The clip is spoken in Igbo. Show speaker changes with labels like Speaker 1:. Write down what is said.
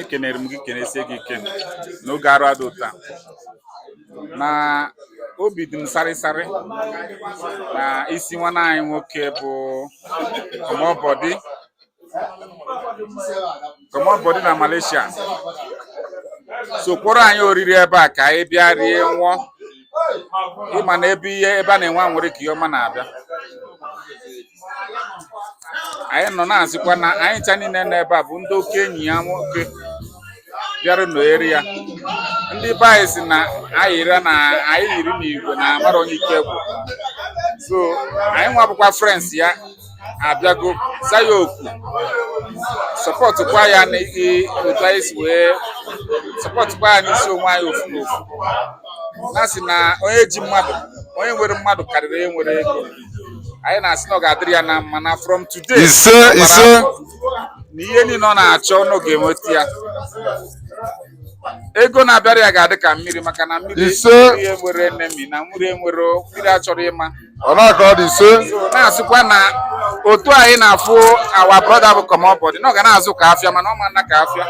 Speaker 1: ekenere m gị kenesie gị ike n'oge arụ adị ụta na obi dị m sarịsarị n'isi nwanne anyị nwoke bụ kọmọbọdị kọmọbọdị na Malaysia so kpọrọ anyị oriri ebe a ka anyị bịa rie nwụọ ị ma na ebe ihe ebe a na-enwe anwụrị ka ihe ọma na-abịa anyị nọ na-asịkwa na anyị ncha niile nọ ebe a bụ ndị oke enyi ya nwoke bịara nọnyere ya ndị be anyị sị na anyị yiri na anyị yiri n'igwe na amarọ onye ike gwụ so anyị nwa bụkwa friends ya abịago za ya oku supportkwa ya na i- otu anyị si wee supportkwa ya n'isi onwe anyị ofu na ofu na-asị na onye ji mmadụ onye nwere mmadụ karịrị onye nwere ego anyị na-asị na ọ ga-adịrị ya na mma na from today ise ọ gbara ise afọ na ihe niile ọ na-achọ ọ ga-enweta ya ego na-abịara ya ga-adị ka mmiri maka na mmiri Ise. mmiri enwerọ enemy na mmiri enwerọ mmiri achọrọ ịma ọ na-aka ọ dị ise So, na-asịkwa na otu anyị na-afụ our brother bụ kọmọbọdị na ọ ga na-azụ ka afịa mana ọ ma naa ka afịa